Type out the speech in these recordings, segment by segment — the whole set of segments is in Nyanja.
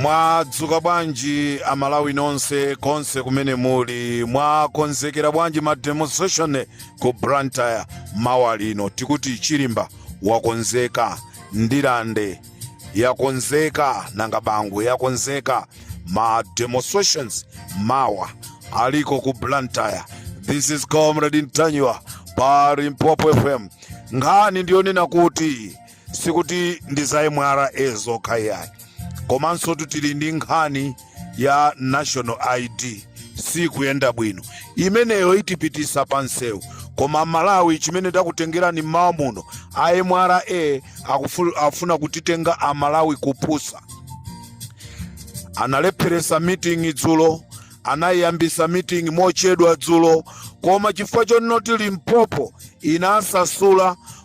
mwadzuka bwanji amalawi nonse konse kumene muli mwakonzekera bwanji ma demonstration ku blantyre mawa lino tikuti chilimba wakonzeka ndilande yakonzeka nanga bangwe yakonzeka ma demonstrations mawa aliko ku blantyre this is comrade ntanyiwa pa limpopo fm nkhani ndiyonena kuti sikuti ndi za mra zokha iyayi komanso tili ndi nkhani ya national id sikuyenda bwino imeneyo itipitisa pa msewu koma amalawi chimene takutengerani mmawa muno a mra afuna kutitenga amalawi kupusa analepheresa meeting dzulo anayiyambisa meeting mochedwa dzulo koma chifukwa chonoti limpopo inasasula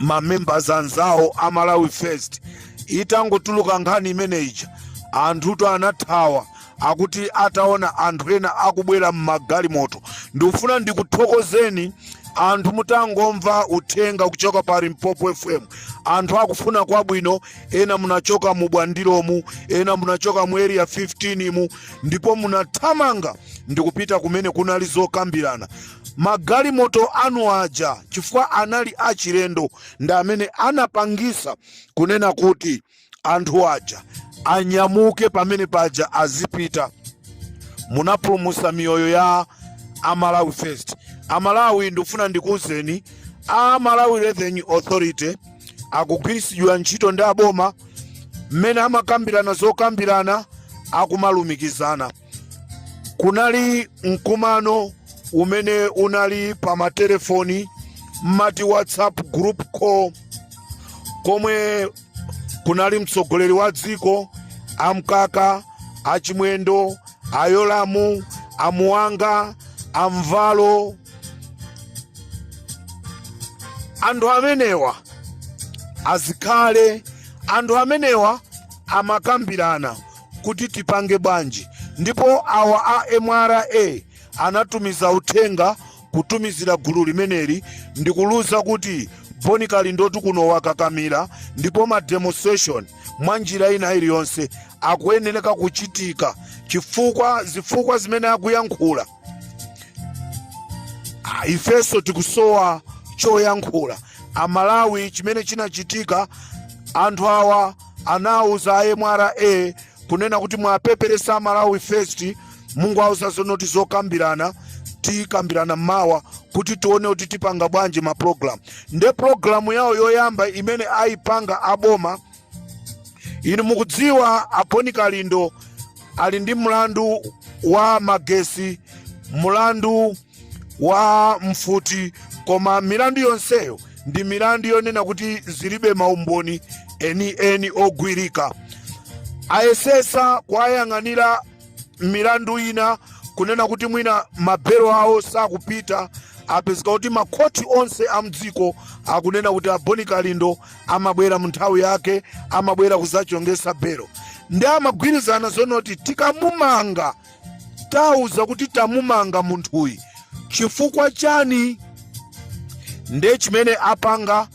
mamembers anzawo a malawi first itangotuluka nkhani imeneija anthuto anathawa akuti ataona anthu ena akubwera mmagalimoto ndikufuna ndikuthokozeni anthu mutangomva uthenga kuchoka pa limpopo fm anthu akufuna kwabwino ena munachoka mu bwandilomu ena munachoka mu area 15 mu ndipo munathamanga ndikupita kumene kunali zokambirana magalimoto anu aja chifukwa anali achilendo ndi amene anapangisa kunena kuti anthu aja anyamuke pamene paja azipita munapulumusa miyoyo ya amalawi first amalawi ndikufuna ndikuwuzeni a malawi revenue authority akugwirisidwa ntchito ndi aboma mmene amakambirana zokambirana akumalumikizana kunali mkumano umene unali pa matelefoni mmati whatsapp group call komwe kunali mtsogoleri wa dziko amkaka achimwendo ayolamu amuwanga amvalo anthu amenewa azikhale anthu amenewa amakambirana kuti tipange bwanji ndipo awa a mra anatumiza uthenga kutumizira gulu limeneli ndikuliuza kuti boni kalindotu kuno wakakamira ndipo ma demonstration mwa njira ina iliyonse akuyenereka kuchitika chifukwa zifukwa zimene akuyankhula ifenso tikusowa choyankhula amalawi chimene chinachitika anthu awa anauza a mra kunena kuti muwapepese amalawi first mungowauza zonoti zokambirana tikambirana mawa kuti tione kuti tipanga bwanji mapulogalamu nde pulogalamu yawo yoyamba imene ayipanga aboma inu mukudziwa a Boni Kalindo ali ndi mlandu wa magesi mlandu wa mfuti koma milandu yonseyo ndi milandu yonena kuti zilibe maumboni enieni ogwirika ayesesa kuwayang'anira milandu ina kunena kuti mwina mabelo awo sakupita apezeka kuti makhoti onse a mdziko akunena kuti a Boni Kalindo amabwera mu nthawi yake amabwera kuzachongesa belo ndi amagwirizana zonoti tikamumanga tauza kuti tamumanga munthuyi chifukwa chani nde chimene apanga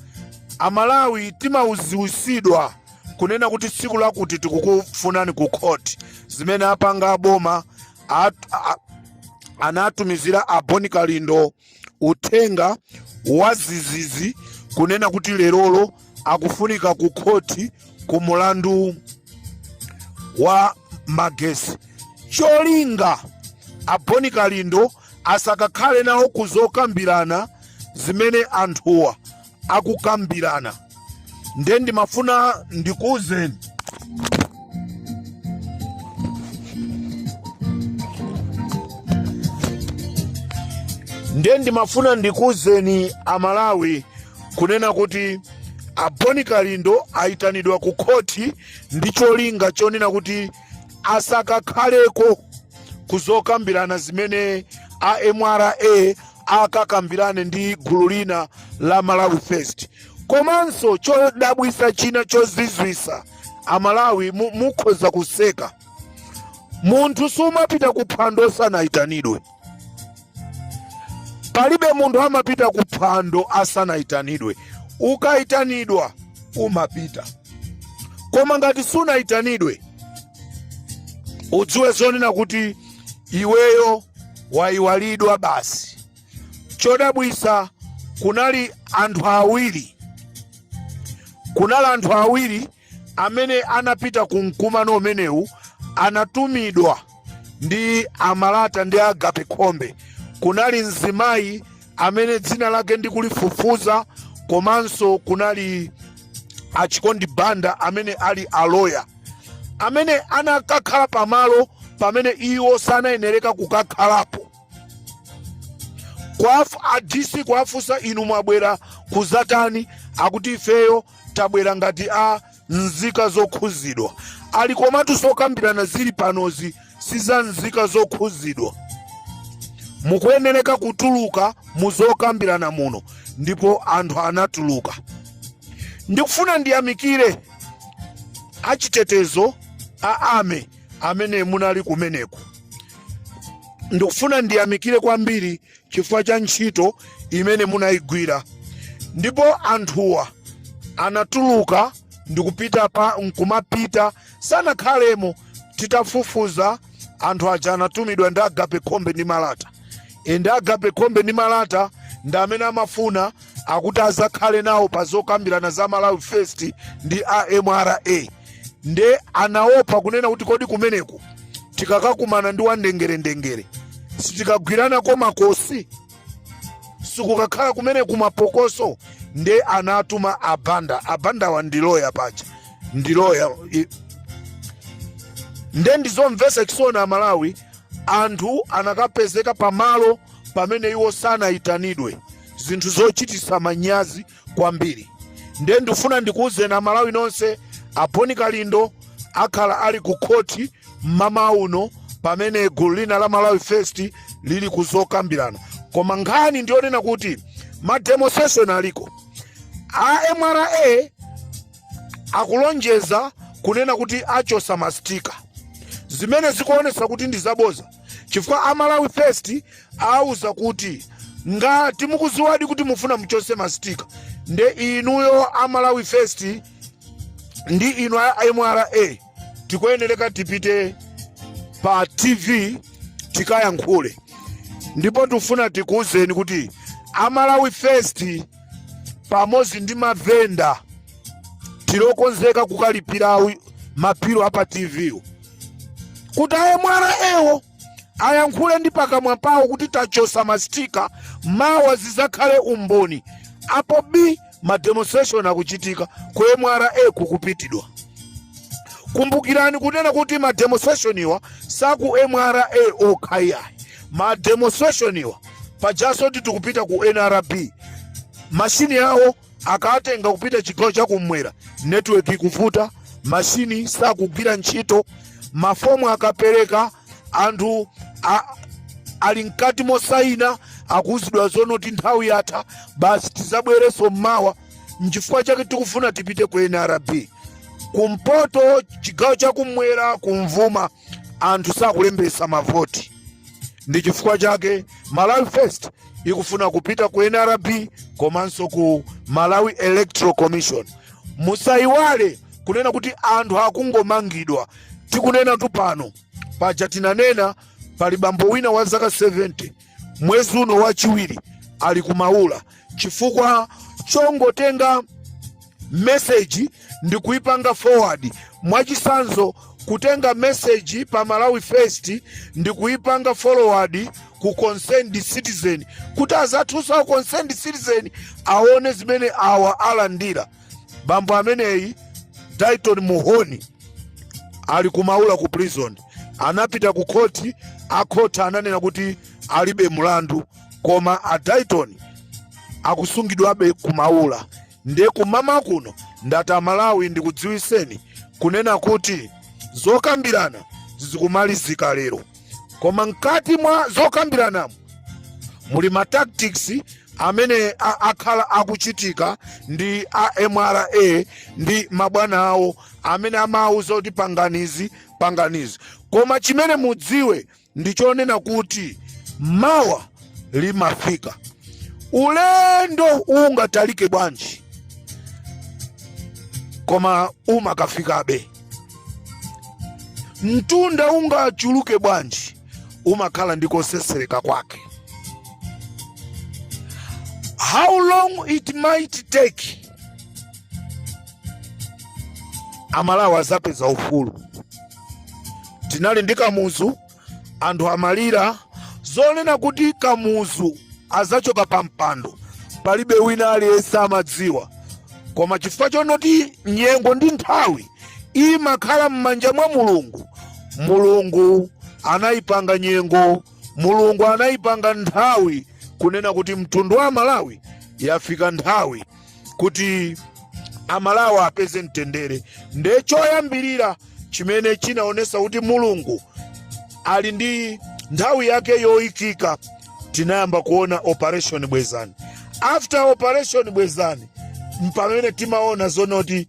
Amalawi timaziwisidwa kunena kuti tsiku lakuti tikukufunani ku court zimene apanga aboma anatumizira a Boni Kalindo uthenga wazizizi kunena kuti lerolo akufunika ku khoti ku mulandu wa magesi cholinga a Boni Kalindo asakakhale nawo kuzokambirana zimene anthuwa akukambirana nde ndimafuna ndikuwuzeni Amalawi kunena kuti a Boni Kalindo ayitanidwa ku khoti ndi cholinga chonena kuti asakakhaleko kuzokambirana zimene a MRA akakambirane ndi gulu lina la Malawi First. Komanso chodabwisa china chozizwisa Amalawi mukhoza kuseka. Munthu sumapita ku phwando osanayitanidwe. Palibe munthu amapita ku phwando asanayitanidwe. Ukayitanidwa umapita. Koma ngati sunayitanidwe udziwe zonena kuti iweyo wayiwalidwa basi chodabwisa kunali anthu awiri kunali anthu awiri amene anapita ku mkumano umenewu anatumidwa ndi a Malata ndi Agape Khombe kunali mzimayi amene dzina lake ndikulifufuza komanso kunali a Chikondi Banda amene ali a loya amene anakakhala pamalo pamene iwo sanayenereka kukakhalapo a DC kuwafunsa inu mwabwera kuzatani akuti ifeyo tabwera ngati a nzika zokhuzidwa ali komatu zokambirana zili panozi si za nzika zokhuzidwa mukuyenereka kutuluka mu zokambirana muno ndipo anthu anatuluka ndikufuna ndiyamikire achitetezo ame amene munali kumeneko ndikufuna ndiyamikire kwambiri chifukwa cha ntchito imene munaigwira ndipo anthuwa anatuluka ndikupita nkumapita sanakhalemo titafufuza anthu aja anatumidwa ndi Agape Khombe ndi Malata ende Agape Khombe ndi Malata ndi amene amafuna akuti azakhale nawo pa zokambirana za Malawi First ndi a MRA nde anaopa kunena kuti kodi kumeneku tikakakumana ndi wa Ndengerendengere sitikagwirana komakosi sikukakhala kumene kumapokoso nde anatuma a Banda a Bandawa ndi loya paja ndi loya i- nde ndizomvesa chisoni amalawi anthu anakapezeka pamalo pamene iwo sanayitanidwe zinthu zochititsa manyazi kwambiri ndiye ndifuna ndikuwuzeni amalawi nonse a Boni Kalindo akhala ali ku khoti mmamawa uno pamene gulu lina la malawi first lili kuzokambirana koma nkhani ndiyonena kuti mademonstration aliko a mra akulonjeza kunena kuti achosa mastika zimene zikuonesa kuti ndi zaboza chifukwa a malawi first auza kuti ngati mukuziwadi kuti mufuna muchose mastika nde inuyo a malawi first ndi inu a mra tikuyenereka tipite pa tv tikayankhule ndipo tufuna tikuwuzeni kuti a malawi first pamodzi ndi mavenda tilokonzeka kukalipira awi- mabilu apa tv wo. kuti a mra ewo ayankhule ndi pakamwa pawo kuti tachosa mastika mawa zizakhale umboni apo bi mademonstration akuchitika ku mra kukupitidwa kumbukirani kunena kuti mademonstration iwa saku mra okha iyayi mademonstration iwa pajaso kuti tikupita ku nrb mashini yawo akatenga kupita chigawo chakumwera network ikuvuta mashini sakugwira ntchito mafomu akapereka anthu ali mkati mosayina akuuzidwa zonoti nthawi yatha basi tizabwereso mmawa nchifukwa chake tikufuna tipite ku nrb kumpoto chigawo chakumwera kumvuma anthu sakulembesa mavoti ndi chifukwa chake malawi first ikufuna kupita ku nrb komanso ku malawi electoral commission musayiwale kunena kuti anthu akungomangidwa tikunenatu pano paja tinanena pali bambo wina wa zaka 70 mwezi uno wachiwiri ali ku maula chifukwa chongotenga meseji ndi kuipanga forward mwachisanzo kutenga meseji pa malawi first ndi kuipanga forward ku concerned citizen kuti azathu a concerned citizen aone zimene awa alandira bambo ameneyi Dayton Muhoni ali ku maula ku prison anapita ku khoti akhoti ananena kuti alibe mlandu koma a Dayton akusungidwabe ku maula nde kummawa kuno ndati amalawi ndikudziwiseni kunena kuti zokambirana zikumalizika lero koma mkati mwa zokambiranamo muli ma tactics amene a- akhala akuchitika ndi a mra ndi mabwana awo amene amawuza kuti pangani izi pangani izi koma chimene mudziwe ndi chonena kuti mawa limafika ulendo ungatalike bwanji koma umakafikabe mtunda ungachuluke bwanji umakhala ndi kosesereka kwake how long it might take amalawi azapeza ufulu tinali ndi kamuzu anthu amalira zonena kuti kamuzu azachoka pa mpando palibe wina aliyense amadziwa koma chifukwa chonoti nyengo ndi nthawi imakhala m'manja mwa mulungu mulungu anayipanga nyengo mulungu anayipanga nthawi kunena kuti mtundu wa amalawi yafika nthawi kuti amalawa apeze mtendere nde choyambirira chimene chinaonesa kuti mulungu ali ndi nthawi yake yoikika tinayamba kuona operation bwezani after operation bwezani mpamene timaona zonoti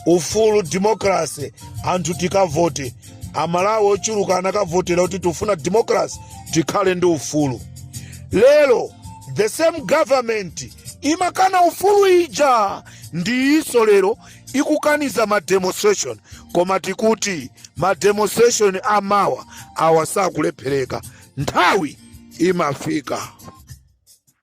ufulu democracy anthu tikavote amalawi ochuluka anakavotera kuti tifuna democracy tikhale ndi ufulu lero the same government imakana ufulu ija ndiyiso lero ikukaniza ma demonstration koma tikuti ma demonstration amawa awa sakulephereka nthawi imafika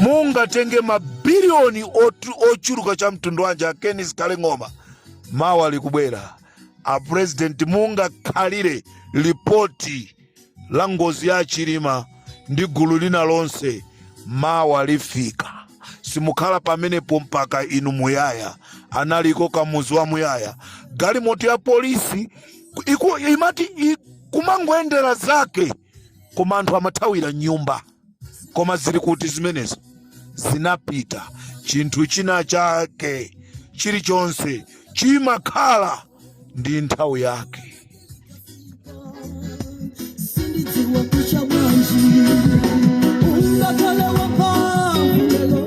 mungatenge mabiliyoni ochuluka cha mtundu wanji a Ken Zikhale Ng'oma mawa likubwera apurezidenti mungakhalire lipoti la ngozi ya a Chilima ndi gulu lina lonse mawa lifika. Simukhala pamenepo mpaka inu muyaya. Analiko Kamuzu wamuyaya. Galimoto ya polisi imati kumangoyendera zake koma anthu amathawira m'nyumba. koma zili kuti zimenezo zinapita chinthu china chake chilichonse chimakhala ndi nthawi yake sindidziwa kucha bwanji ungatole wapambuyo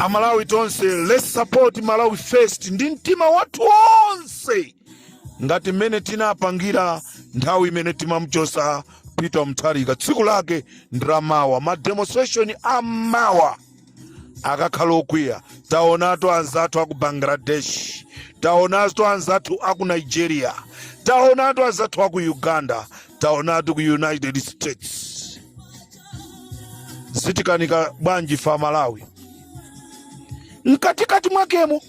amalawi tonse let's support malawi first ndi mtima wathu onse ngati mmene tinapangira nthawi imene timamuchosa peter mutharika tsiku lake ndi la mawa mademonstration amawa akakhala okwiya taonatu anzathu aku bangladesh taonatu anzathu aku nigeria taonatu anzathu aku uganda taonatu ku united states zitikanika bwanji ife amalawi mkatikati mwakemo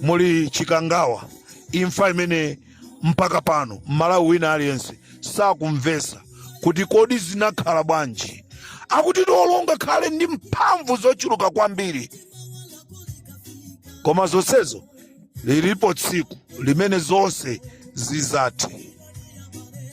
muli chikangawa imfa imene Mpaka pano m'Malawi wina aliyense sakumvesa kuti kodi zinakhala bwanji akuti olo ungakhale ndi mphamvu zochuluka kwambiri koma zonsezo lilipo tsiku limene zonse zizathe.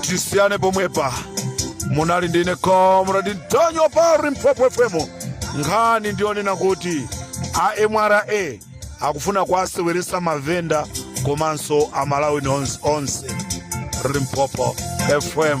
tisiyane pomwepa munali ndine comrade ntanyiwa pa limpopo fm nkhani ndiyonena kuti a mra akufuna kuwaseweresa mavenda komanso amalawi nonse limpopo fm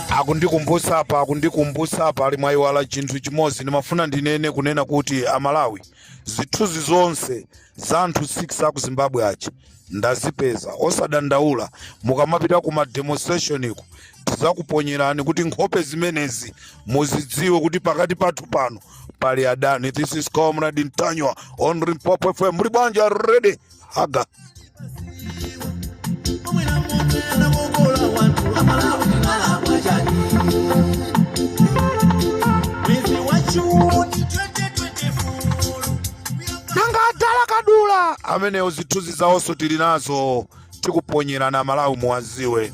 akundikumbusa apa akundikumbusa apa ali mwayiwala chinthu chimodzi ndimafuna ndinene kunena kuti amalawi zithunzi zonse za anthu 6 aku zimbabwe aja ndazipeza osadandaula mukamapita ku mademonstrationko tizakuponyerani kuti nkhope zimenezi muzidziwe kuti pakati pathu pano pali adani this is comrade ntanyiwa on limpopo fm muli bwanji already aga nanga madala kadula amenewo zithunzi zawonso tili nazo tikuponyerana malawi muwaziwe